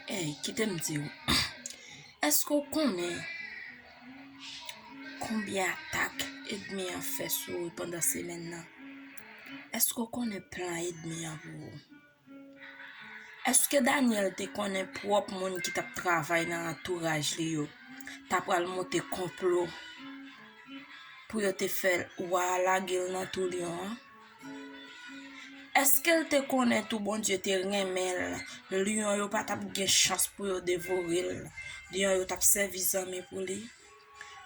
Ey, kite m di ou, èske ou konnen konbyen atak edmi an fè sou ou pandan semèn nan? Èske ou konnen plan edmi an pou ou? Èske Daniel te konnen pwòp moun ki t ap travay nan antouraj li yo t apral monte konplo pou yo te fè l wa a lage l nan tou lyon an? Èske l te konnen tou Bondye te renmen l? Lyon yo pa t ap gen chans pou yo devore l. Lyon yo t ap sèvi zanmi pou li.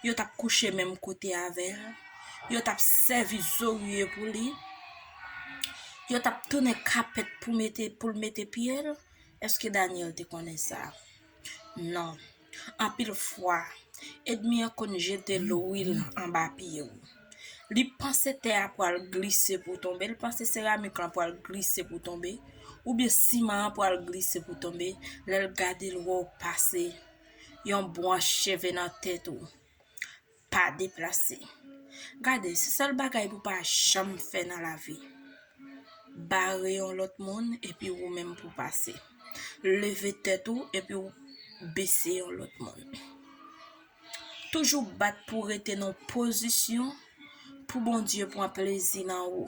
Yo t ap kouche menm kote avè l. Yo t ap sèvi zorye pou li. Yo t ap tounen kapèt pou l mete pye l. Èske Dànyèl te konnen sa? Non. Anpil fwa, èdmi an konn jete lwil anba pye w. Li panse tè a pral glise pou tonbe, li panse seramik lan pral glise pou tonbe, oubyen siman an pral glise pou tonbe, lè l gade l wè w pase yon bwanch cheve nan tèt ou. Pa deplase. Gade, se sèl bagay pou pa janm fè nan lavi. Bare yon lòt moun epi ou menm pou pase. Leve tèt ou epi ou bese yon lòt moun. Toujou bat pou rete nan pozisyon pou Bondye pran plezi nan ou.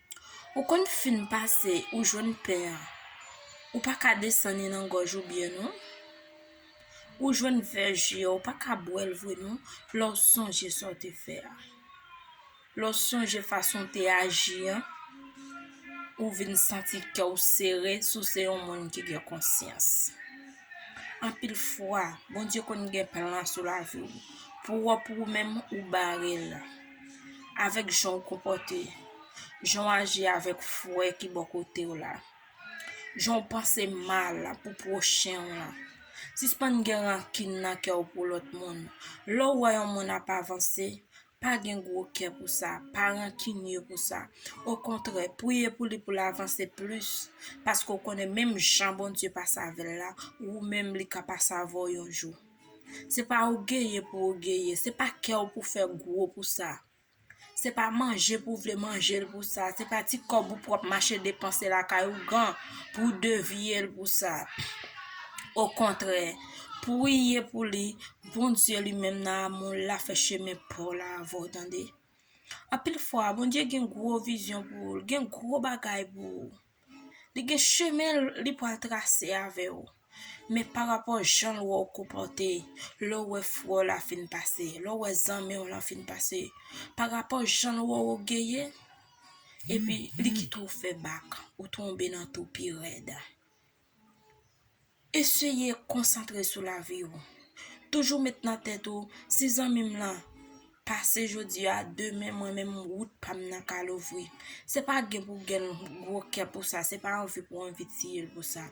Ou konn fin pase ou jwenn pen an ou pa ka desann li nan gòj ou byen non Ou jwenn vè ji an ou pa ka bwè l vre non lè w sonje sa w te fè a Lè w sonje fason w te aji an ou vin santi kè w sere si w se yon moun ki gen konsyans Anpil fwa Bondye konn gen plan sou lavi w pou w pou ou menm ou bare l avèk jan ou konpòte, jan ou aji avèk frè ki bò kote ou la, jan ou panse mal pou pwochen ou lan. Sispann gen rankin nan kè ou pou lòt moun. Lè ou wè yon moun ap avanse, pa gen gwo kè pou sa, pa rankinye pou sa. Okontrè, priye pou li pou l avanse plis, paske ou konnen menm jan Bondye pase avè l la, ou menm li ka pase avè w yon jou. Se pa ogeye pou ogeye, se pa kè w pou fè gwo pou sa. Se pa manje pou vle manje l pou sa, se pa ti kòb ou pwòp mache depanse lakay ougan pou w devye l pou sa. Okontrè, priye pou li, Bondye li menm nan amou l la fè chemen pa w la avè w tande. Anpil fwa, Bondye gen gwo vizyon pou ou, l gen gwo bagay pou ou. Li gen chemen li pral trase avè ou. Men pa rapò jan l wè ou konpòte, lè ou wè frè w la fin pase, lè ou wè zanmi w lan fin pase, pa rapò jan l wè ou ogeye, epi li kite ou fè bak, ou tonbe nan tou pi rèd. Eseye konsantre sou lavi ou. Toujou met nan tèt ou si zanmi m lan pase jodi a, demen mwen menm wout pa m nan ka louvri. Se pa gen pou gen gwo kè pou sa, se pa anvi pou anvi tiye l pou sa.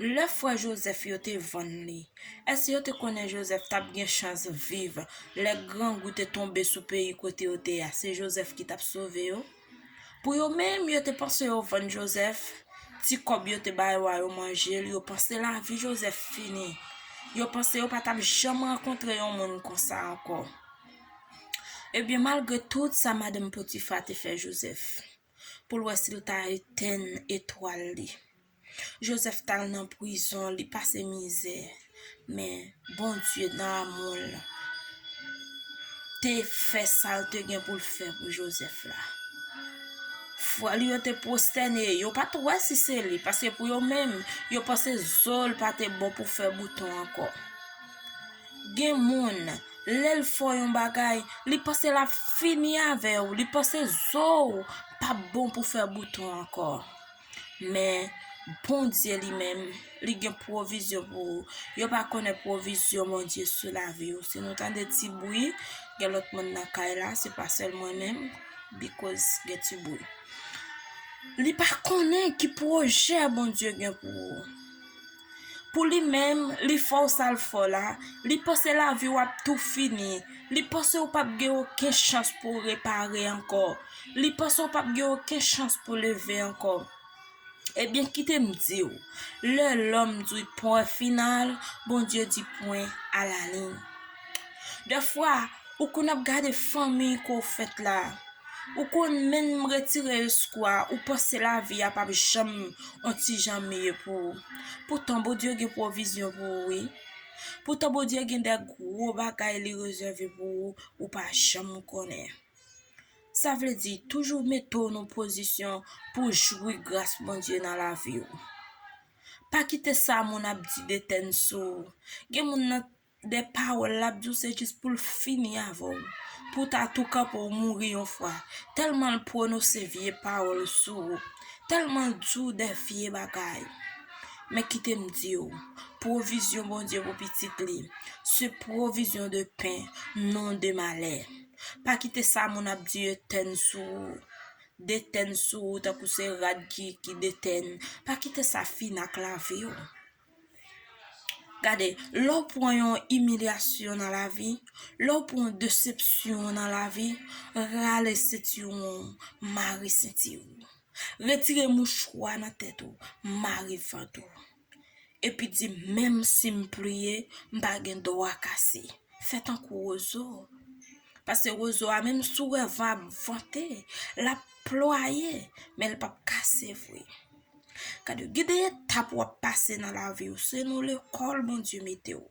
Lè frè Jozèf yo te vann li, èske yo te konnen Jozèf t ap gen chans viv lè grangou te tonbe sou peyi kote yo te a? Se Jozèf ki t ap sove yo? Pou yo menm, yo te panse yo vann Jozèf, ti kòb yo te ba yo a yo manje l, yo panse lavi Jozèf fini, yo panse yo pa t ap janm rankontre yon moun konsa ankò. Ebyen, malgre tout sa madanm Potifa te fè Jozèf pou l wè si l ta etenn etwal li, Joseph tal nan prizon li pase mizè men Bondye nan amoul te fè sal te gen poul fè pou Joseph la frèl yo te prostène yo pat wè si se li paske pou yo menm yo panse zol pa te bon pou fè bouton ankò gen moun lèl fò yon bagay li panse la fini avèw li panse zol pa bon pou fè bouton ankò. Men, Bondye li menm, li gen pwovizyon pou ou. Yo pa konnen pwovizyon Bondye sou lavi ou. Si nou tande ti bwi, gen lòt moun nan kay la, se pa sèl mwen menm, bikoz gen ti bwi. Li pa konnen ki pwojè Bondye gen pou ou. Pou li menm, li fè w sa l fè w la, li panse lavi w ap tou fini, li panse ou pap gen oken chans pou w repare ankò, li panse ou pap gen oken chans pou w leve ankò. Ebyen kite m di w, lè lòm di pwen final, Bondye di pwen alalin. Dèfwa, ou konn ap gade fanmi ke w fèt la, ou konn menm retire espwa a, ou panse lavi a pap janm on ti jan miye pou ou. Poutan Bondye gen pwovizyon pou ou wi. Poutan Bondye gen de gwo bagay li rezève pou ou, ou pa janm konnen. Sa vle di, toujou mete w nan pozisyon pou w jwi gras Bondye nan lavi ou. Pa kite sa moun ap di de tèn sou ou. Gen moun nan. de pawol lap diw se jis poul fini avèw pou ta tou kanpe ou mouri yon fwa telmanl pwonose vye pawol sou ou telmanl diw de vye bagay men kitem diw pwovizyon Bondye pou pitit li se pwovizyon de pen non de malè pa kite sa moun ap di etèn sou ou detèn sou ou tankou se rad ki detèn pa kite sa fini ak laviw. Gade, lè w pran yon imilyasyon nan lavi, lè w pran yon desepsyon nan lavi, rale sentiwon w, mare senti w. Retire mouchwa nan tèt ou, mare vant ou. Epi di, menm si m pliye, m pa gen dwa kase. Fè tankou wozo. Pase wozo a, menm si w wè van ap vante, l ap plwaye, men l pap kase vre. Gade yo, gen de etap w ap pase nan lavi w, se nan lekòl Bondye mete w.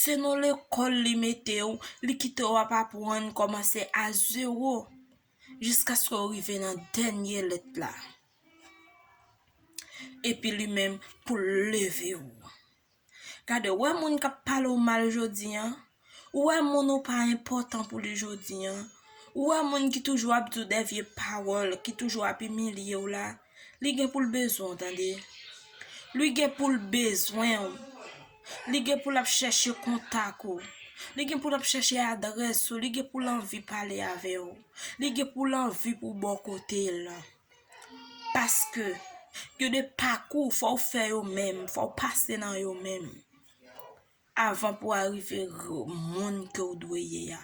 Se nan lekòl li mete w, li kite w ap apwann kòmanse a zewo jiskaske w rive nan dènye lèt la. Epi li menm pou l leve w. Gade ou wè moun kap pale w mal jodi an, ou wè moun ou pa enpòtan pou li jodi an, ou wè moun ki toujou ap di w dè vye pawòl, ki toujou ap imilye w la, li gen pou l bezwen w tande. Li gen pou l bezwen w. Li gen pou l ap chèche kontak ou. Li gen pou l ap chèche adrès ou, li gen pou l anvi pale avè w. Li gen pou l anvi pou w bò kote l. Paske, gen de pakou fò ou fè yo menm, fò ou pase nan yo menm. Avan pou arive yo moun ke ou dwe ye a.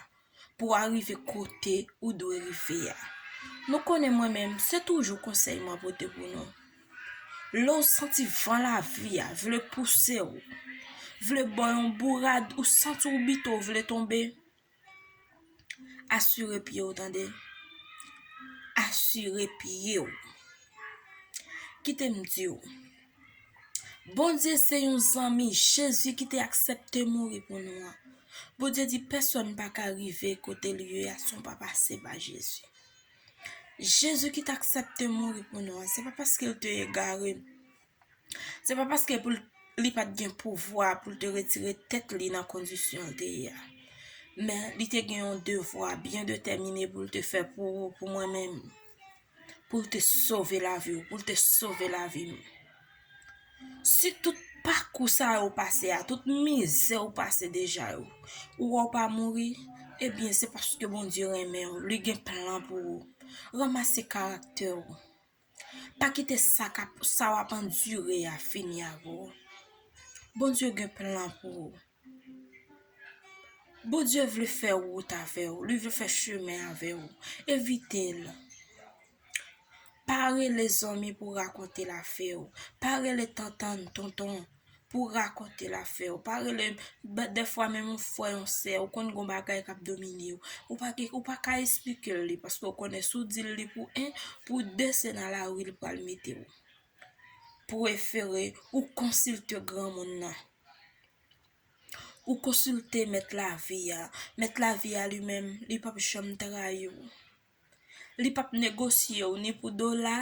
Pou arive kote ou dwe rive ya. Nou konnen mwen menm, se toujou konsèy mwen pote pou nou. Lè ou santi van la vi a, vle pouse ou. Vle bò yon bourad, ou santi ou bito, vle tonbe. Asire pye w tande. Asire pye w. Kite m di w. Bondye se yon zanmi. Jezi ki te aksepte mouri pou nou an. Bondye di pèsòn pa ka rive kote li ye a san pa pase pa Jezi. Jezi ki te aksepte mouri pou nou an. Se pa paske l te egare. Se pa paske pou li pat gen pouvwa pou l te retire tèt li nan kondisyon l te ye a. Men, li te gen yon devwa byen detèmine pou l te fè pou ou, pou mwen menm. Pou l te sove lavi ou, pou l te sove lavi m. Si tout pakou sa yo pase a, tout mizè ou pase deja yo, ou wè ou pa mouri, ebyen se paske Bondye renmen ou, li gen plan pou ou. Ranmase karaktè ou. Pa kite sa kap sa wap andire a fini avè w. Bondye gen plan pou ou. Bondye vle fè wout avè w, li vle fè chemen avè w. Evite l. Pa rele zanmi pou rakonte l afè w. Pa rele tantan, tonton. pou w rakonte l afè w. Pa rele m, dèfwa menm yon frè, yon sè, ou konn gon bagay k ap domine w, ou pa gen, ou pa ka esplike l li, paske ou konnen si w di l li pou 1, pou 2 se nan lari l pral mete w. Prefere ou konsilte granmoun nan. Ou konsilte mèt lavi a. Mèt lavi a li menm, li p ap janm trayi w. Li pap negosye w ni pou dola,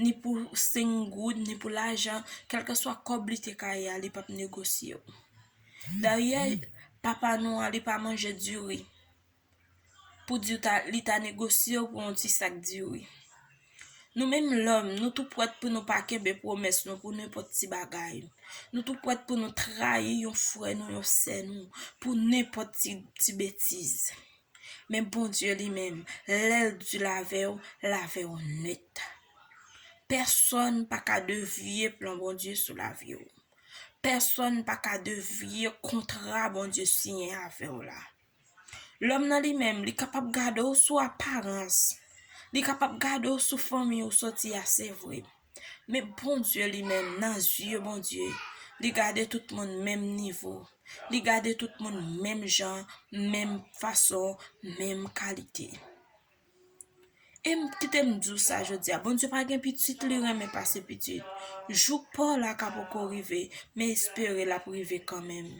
ni pou 5 goud, ni pou lajan, kèlkeswa kòb li te ka ye a, li pap negosye w. Daryè, papa nou an, li pa manje diri pou di w ta, li ta negosye w pou yon ti sak diri. Nou menm lòm, nou tou prèt pou nou pa kenbe pwomès nou pou nenpòt ti bagay. Nou tou prèt pou nou trayi yon frè nou, yon sè nou, pou nenpòt ti betiz. Men Bondye li menm, lè l di l avè w, l avè w nèt. Pèsòn pa ka devye plan Bondye sou lavi w. Pèsòn pa ka devye kontra Bondye siyen avè w la. Lòm nan li menm, li kapab gade w sou aparans, li kapab gade w sou fanmi ou soti a, se vre. Men Bondye li menm nan zye Bondye li gade tout moun menm nivo, li gade tout moun menm jan, menm fason, menm kalite. E m kite m di w sa jodi a, Bondye pa gen pitit li renmen pase pitit. Jou pa w la ka poko rive, men espere l ap rive kanmenm.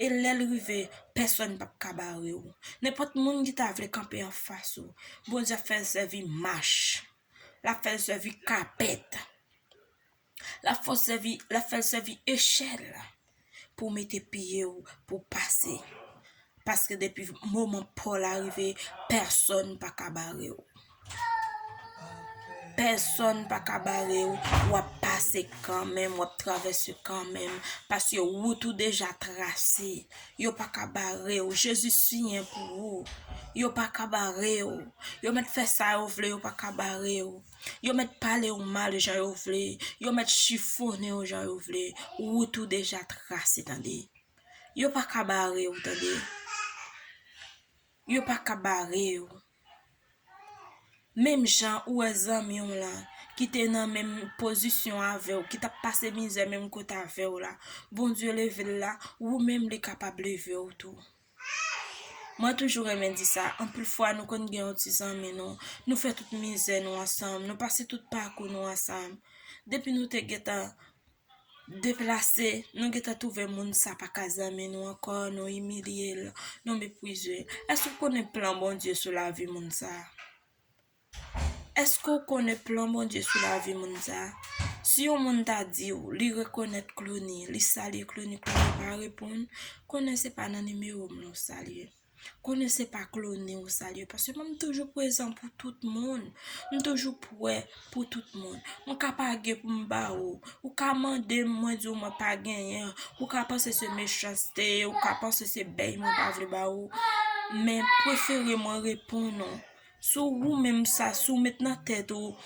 E lè l rive, pèsòn pap ka bare w. Nenpòt moun ki ta vle kanpe anfas ou, Bondye ap fè l sèvi mach Lap fèl sèvi kapèt. Lap fè sèvi, lap fèl sèvi echèl pou mete pye ou pou pase. Paske depi moman paw la rive, pèsòn pa ka bare ou. Pèsòn pa ka bare ou, wap pase kanmenm, wap travèse kanmenm, paske wout ou deja trase. Yo pa ka bare w, Jezi siyen pou ou. Yo pa ka bare w. Yo mèt fè sa yo vle, yo pa ka bare w. Yo mèt pale w mal jan yo vle, yo mèt chifone w jan yo vle, wout ou deja trase tande. Yo pa ka bare w tande. Yo pa ka bare yo. Menm jan ou wè zanmi w lan ki te nan menm pozisyon avè w, ki t ap pase mizè menm kote avè w la, Bondye leve l la, ou menm li kapab leve w tou. Mwen toujou renmen di sa, anpil fwa nou konn gen yon ti zanmi nou, nou fè tout mizè nou ansanm, nou pase tout pakou nou ansanm. Depi nou te gen tan deplase, nou gentan twouve moun sa pa ka zanmi nou ankò, nou imilye l, nou mepwize l. Èske ou konnen plan Bondye sou lavi moun sa? Èske ou konnen plan Bondye sou lavi moun sa? Si yon moun ta di ou li rekonèt Clony, li salye Clony, Clony pa reponn, konnen se pa nan nimewo m non w salye. Konnen se pa klone ou salye paske mwen m toujou prezan pou tout moun, m toujou pwè pou tout moun. Mwen ka pa gen pou m ba ou, ou ka mande m mwen di w mwen pa genyen, ou ka panse se mechanste, ou ka panse se bèy mwen pa vle ba ou, men prefere mwen reponn ou. Si w ou menm sa, si w met nan tèt ou,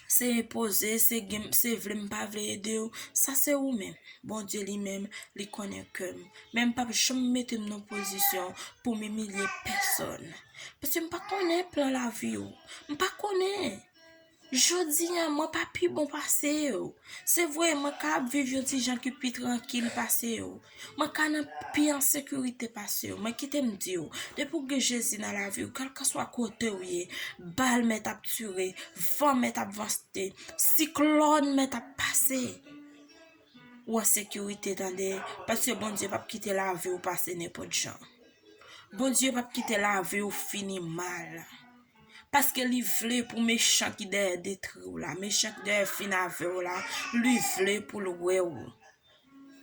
se enpoze, se gen, se vle m pa vle ede w, sa se ou menm. Bondye li menm, li konnen kè m. Men m pap janm mete m nan pozisyon pou m imilye pèsòn. Paske m pa konnen plan lavi ou. M pa konnen. Jodi a, mwen pa pi bon pase ou. Se vre, mwen ka ap viv yon ti jan ki pi trankil pase ou. Mwen ka nan pi an sekirite pase yo. Men kite m di ou, depi ou gen Jezi nan lavi ou, kèlkanswa kote ou ye, bal mèt ap tire, van mèt ap vanste, siklòn mèt ap pase, ou an sekirite tande, paske Bondye p ap kite lavi ou pase nenpòt jan. Bondye p ap kite lavi ou fini mal. Paske li vle pou mechan ki dèyè detri ou la, mechan ki dèyè fin avè ou la, li vle pou l wè ou.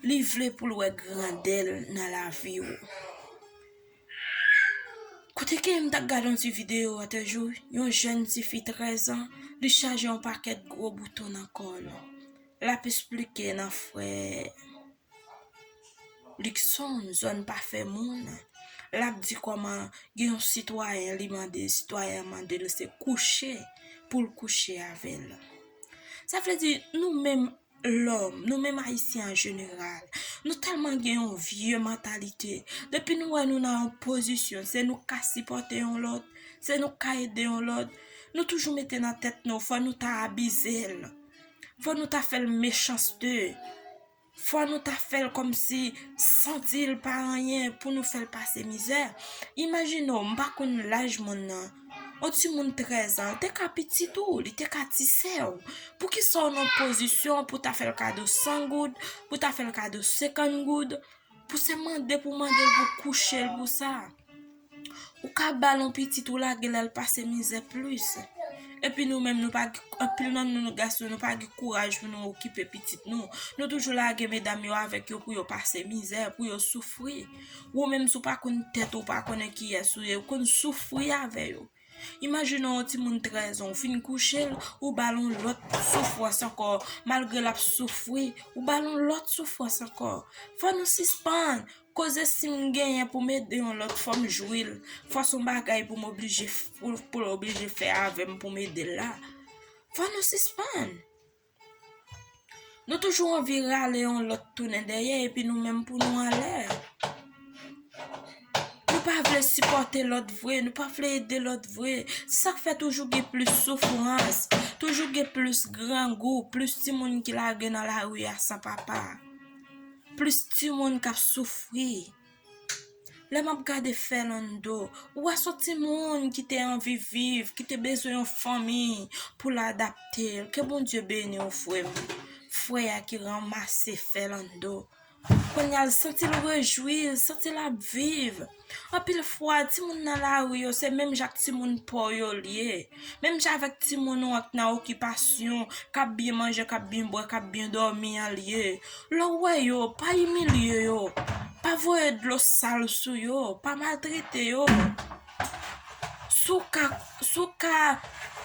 Li vle pou l wè grandè l nan lavi w. Kote ke m ta gade yon ti video a te jou, yon jèn ti fi 13 an, li chaje yon pakèt gwo bouton nan kò l. L ap esplike nan frè Likson, zòn pa fè moun. L ap di kòman gen yon sitwayen li mande, sitwayen an mande l se kouche pou l kouche avè l. Sa vle di nou menm lòm, nou menm Ayisyen an jeneral, nou tèlman gen yon vye mantalite, depi nou wè nou nan yon pozisyon, se nou k ka sipòte yon lòt, se nou k ka ede yon lòt, nou toujou mete nan tèt nou fò nou ta abize l, fò nou ta fè l mechanste, fò nou ta fè l kòmsi santi l pa anyen pou nou fè l pase mizè. Imajine w, m pa konn laj moun nan. Yon timoun 13 an, li te ka pitit ou, li te ka ti sè ou. Pou ki sa ou nan pozisyon pou ta fè l kado 100 goud, pou ta fè l kado 50 goud, pou se mande pou mande l pou kouche l pou sa. Ou ka ba l yon pitit ou lage l al pase mizè plis. E pi nou menm nou pa gen, anpil nan nou nou gason nou pa gen kouraj pou nou okipe pitit nou. Nou toujou lage medam yo avèk yo pou yo pase mizè, pou yo soufri. Ou menm si w pa konn tèt ou, ou pa konnen kiyès ou ye, ou konn soufri avè yo. Imajine yon timoun 13 an, ou fin kouche l, ou ba l yon lòt soufrans ankò, malgre l ap soufri, ou ba l yon lòt soufrans ankò. Fò nou sispann koze si m genyen pou m ede yon lòt fò m jwi l, fò s on bagay pou m oblije, pou l oblije fè avè m pou m ede l la. Fò nou sispann! Nou toujou anvi rale yon lòt tounen dèyè epi nou menm pou nou anlè. Nou pa vle sipòte lòt vre, nou pa vle ede lòt vre. Se sak fè toujou gen plis soufrans, toujou gen plis grangou, plis timoun ki lage nan lari a san papa. Plis timoun kap soufri. Lè m ap gade Fernando, ou wè son ti moun ki te anvi viv, ki te bezwen yon fanmi pou l adapte l. Ke Bondye beni w frè m. Frè a ki ranmase Fernando. Kounya l santi l rejwi, l santi l ap viv. Anpil fwa, ti moun nan lari yo se menm jan ak ti moun pò yo l ye. Menm jan avèk timoun ou an k nan okipasyon, k ap byen manje, k ap byen bwè, k ap byen dòmi an lye. Lè w wè yo, pa imilye yo, pa voye dlo sal sou yo, pa maltrete yo. Si w ka, si w ka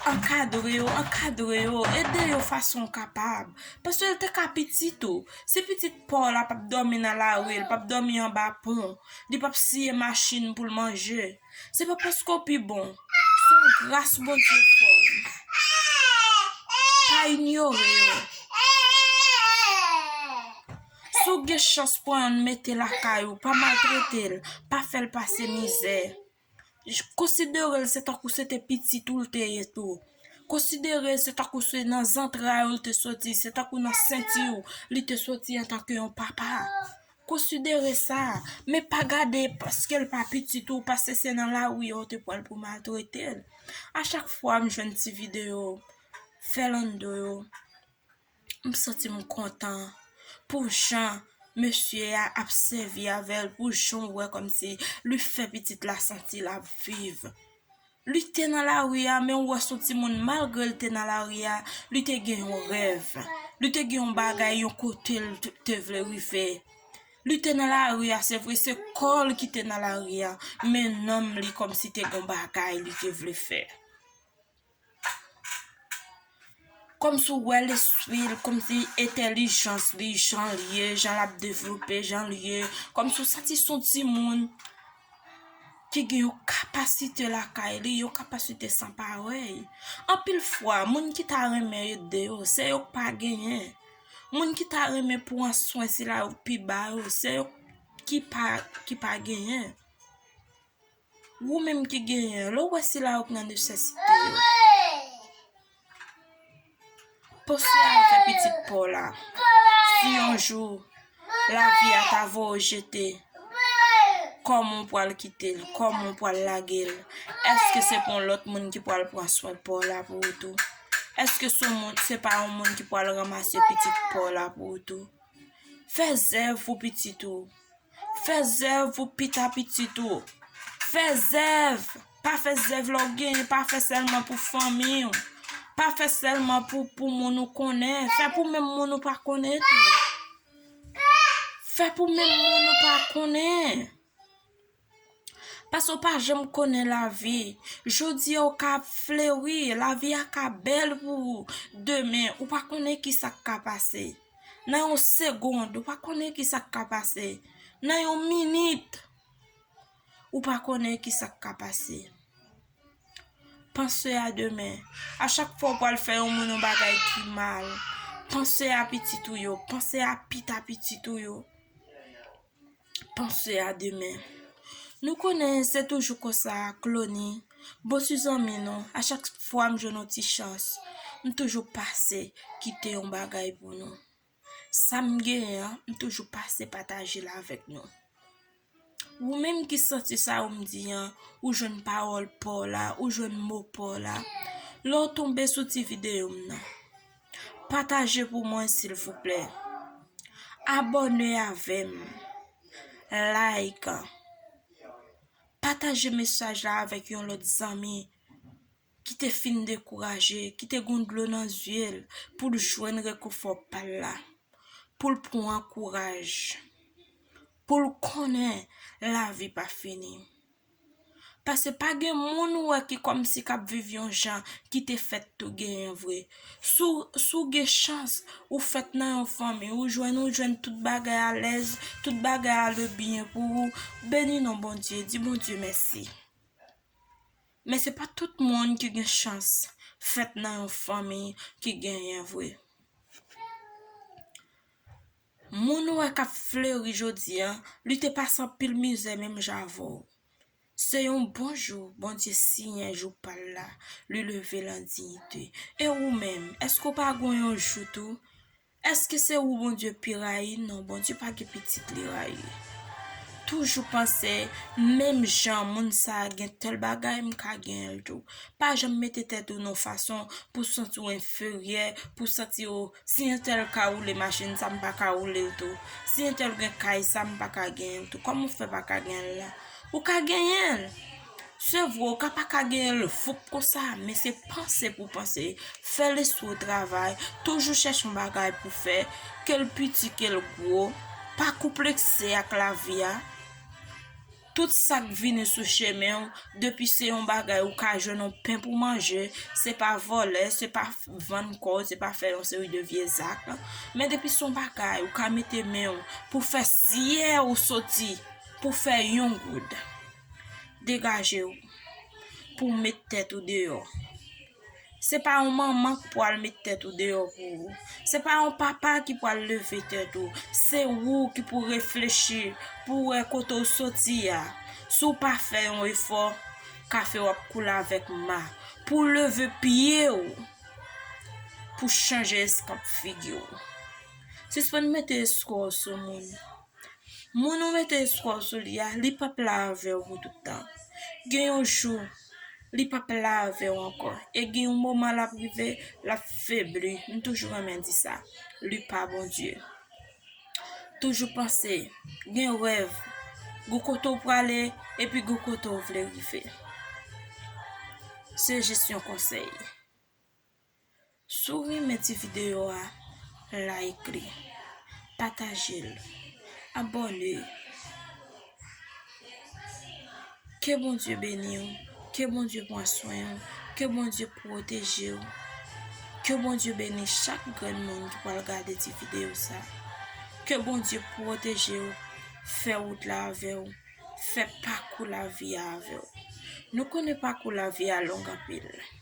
ankadre yo, ankadre yo, ede yo fason w kapab. Paske l te ka pitit ou. Si pitit pa w la p ap dòmi nan lari, l p ap dòmi anba pon, li p ap siye machin pou l manje. Se pa paske w pi bon. Se yon gras Bondye fè w. Pa inyore yo. Si w gen chans pran yon mete lakay ou, pa maltrete l, pa fè l pase mizè. Konsidere l se tankou se te pitit ou l te ye tou. Konsidere se tankou se nan zantray ou l te soti, se tankou nan senti ou li te soti antanke yon papa. Konsidere sa, men pa gade paske l pa pitit ou, paske se nan lari a w te pran l pou maltrete l. A chak fwa m jwenn ti videyo Fernando yo, m santi m kontan pou jan mesye a ap sèvi avè l, pou jan w wè kòmsi li fè pitit la santi l ap viv. Li te nan lari a, men ou wè son ti moun malgre li te nan lari a, li te gen yon rèv. Li te gen yon bagay, yon kote li te vle rive. Li te nan lari a, se vre se kò li ki te nan lari a, men nanm li kòm si te gen yon bagay li te vle fè. Komsi w wè lespri l, komsi entèlijans li, jan l ye, jan l ap devlope, jan l ye, komsi w santi s on timoun ki gen yon kapasite lakay li, yon kapasite san parèy. Anpil fwa, moun ki ta renmen ede yo, se yo k pa genyen. Moun ki ta renmen pran swen sila yo k pi ba yo, se yo ki pa genyen. Ou menm ki genyen, lè ou wè sila yo ki nan nesesite yo, panse a fè pitit pa w la. Si yon jou lavi a ta voye ou jete, kòman ou pral kite l, kòman ou pral lage l? Èske se pa yon lòt moun ki pral pran swen pa w la pou ou tou? Èske se pa yon moun ki pral ranmase pitit pa w la pou ou tou? Fè zèv pou pitit ou. Fè zèv pou pita pitit ou. Fè zèv. Pa fè zèv lè w genyen. Pa fè sèlman pou fanmi w. Pa fè sèlman pou moun ou konnen. Fè pou menm moun ou pa konnen tou. Fè pou menm moun ou pa konnen. Pase w pa janm konnen lavi. Jodi a ou ka ap fleuri, lavi a ka bèl pou ou. Demen, ou pa konnen ki sa k ka pase. Nan yon segond, ou pa konnen ki sa k ka pase. Nan yon minit, ou pa konnen ki sa k ka pase. Panse a demen. A chak fwa ou pa l fè yon moun yon bagay ki mal, panse a pitit ou yo, panse a pita pitit ou yo. panse a demen. Nou konnen se toujou konsa ak Loni, bon ti zanmi nou, a chak fwa m jwenn yon ti chans, m toujou pase kite yon bagay pou nou. Sa m genyen an, m toujou pase pataje l avèk nou. Ou menm ki santi sa yo m di an, ou jwenn pawòl pa w la, ou jwenn mo pa w la, lè w tonbe sou ti videyo m nan. Pataje pou mwen silvouplè. Abòne avèm. Like. Pataje mesaj la avèk yon lòt zanmi ki te fin dekouraje, ki te gon dlo nan zye l pou l jwenn rekonfò pa l la. Pou l pran kouraj. Pou l konnen lavi pa fini. Pase pa gen moun ou wè ki kòmsi k ap viv yon jan ki te fèt tou genyen vre. Si w gen chans ou fèt nan yon fanmi ou jwenn ou jwenn tout bagay alèz, tout bagay ale byen pou ou, beni non Bondye, di Bondye mèsi. Men se pa tout moun ki gen chans fèt nan yon fanmi ki genyen vre. Moun ou wè k ap fleri jodi a, li te pase anpil mizè menm jan avè w. Se yon bon jou Bondye siyen jou pa l la, li leve l an diyite. E ou menm, èske w pa gen yon jou tou? Èske se ou Bondye pi rayi? Non, Bondye pa gen pitit li rayi. Toujou panse, menm jan moun sa a gen tèl bagay, m ka gen l tou. Pa janm mete tèt ou nan yon fason pou w santi w enferyè, pou w santi w Si entèl ka woule machin sa m pa ka woule l tou. Si entèl gen kay sa m pa ka genyen l tou. Kòman ou fè pa ka genyen l la? Ou ka genyen l! Se vre ou ka pa ka genyen l foup konsa, men se panse pou w panse, fè lespri w travay, toujou chèche yon bagay pou w fè, ke l piti, ke l gwo, pa konplekse ak lavi a. Tout sa k vini sou chemen w, depi se yon bagay ou ka jwenn yon pen pou manje, se pa vòlè, se pa vann kò w, se pa fè yon seri de vye zak, men depi se yon bagay ou ka mete men w pou fè siye ou soti pou fè yon goud, degaje w pou w met tèt ou deyò. Se pa yon manman k pou al met tèt ou deyò pou ou. Se pa yon papa ki pou al leve tèt ou. Se ou ki pou reflechi pou w wè kote w soti a. Si w pa fè yon efò, kafe w ap koule avèk ma. Pou w leve pye w, pou w chanje eskanp figi w. Sispann mete eskò w sou moun. Moun ou mete espwa w sou li a, li pap la avè w pou tout tan. Gen yon jou, li pap la avè w ankò. E gen yon moman l ap rive, l ap febli. M toujou renmen di sa. Li pa Bondye. Toujou panse, gen rèv, gen kote w prale, epi gen kote w vle rive. Se jis yon konsèy. Si w renmen ti videyo a, like li, pataje l, abòne. Ke Bondye beni w, ke Bondye pran swen w, ke Bondye pwoteje w, ke Bondye beni chak grenn moun ki pral gade ti videyo sa. Ke Bondye pwoteje w, fè wout la avè w, fè pakou lavi a avè w. Nou konnen pakou lavi a long anpil.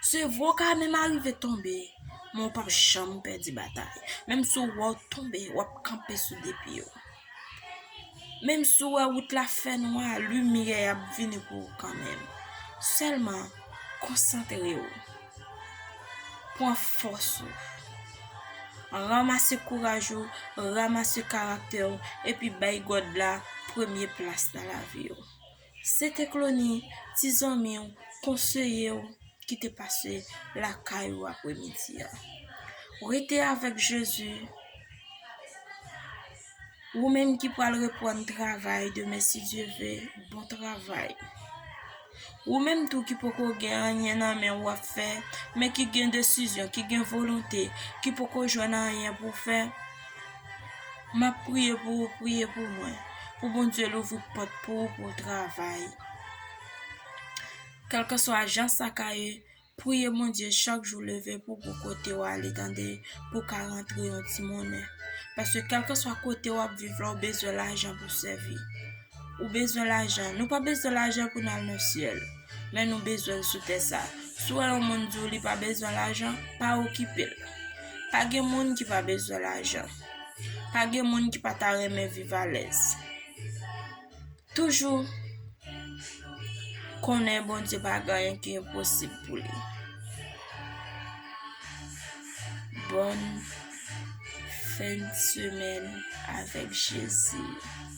Se vre w ka menm arive tonbe, men w pap janm pèdi batay. Menm si w wè w tonbe, w ap kanpe sou de pye w. Menm si w wè wout la fè nwa, limyè a ap vini pou ou kanmenm. Sèlman, konsantre w. Pran fòs ou. Ranmase kouraj ou, ranmase karaktè w, epi bay God la premye plas nan lavi w. Se te Clony, ti zanmi w, konseye w ki te pase lakay ou apremidi a. Ou rete avèk Jezi. Ou menm ki pral reprann travay demen si Dye ve, bon travay. Ou menm tou ki poko gen anyen nan men ou ap fè, men ki gen desizyon, ki gen volonte, ki poko jwenn anyen pou fè, Map priye pou ou priye pou mwen pou Bondye louvri pòt pou ou pou travay kelkeswa jan sa ka ye priye Bondye chak jou leve pou ou pou kote ou ale tande pou ka rantre yon ti monnen paske kelkeswa kote wap viv la ou bezwen lajan pou sèvi. Ou bezwen lajan? Nou pa bezwen lajan pou n al nan syèl, men nou bezwen l sou tè sa a. Si w wè yon moun di w li pa bezwen lajan, pa okipe l. Pa gen moun ki pa bezwen lajan. Pa gen moun ki pa ta renmen viv alèz. Toujou konnen Bondye pa gen anyen ki enposib pou li. Bòn fen de semèn avèk Jezi.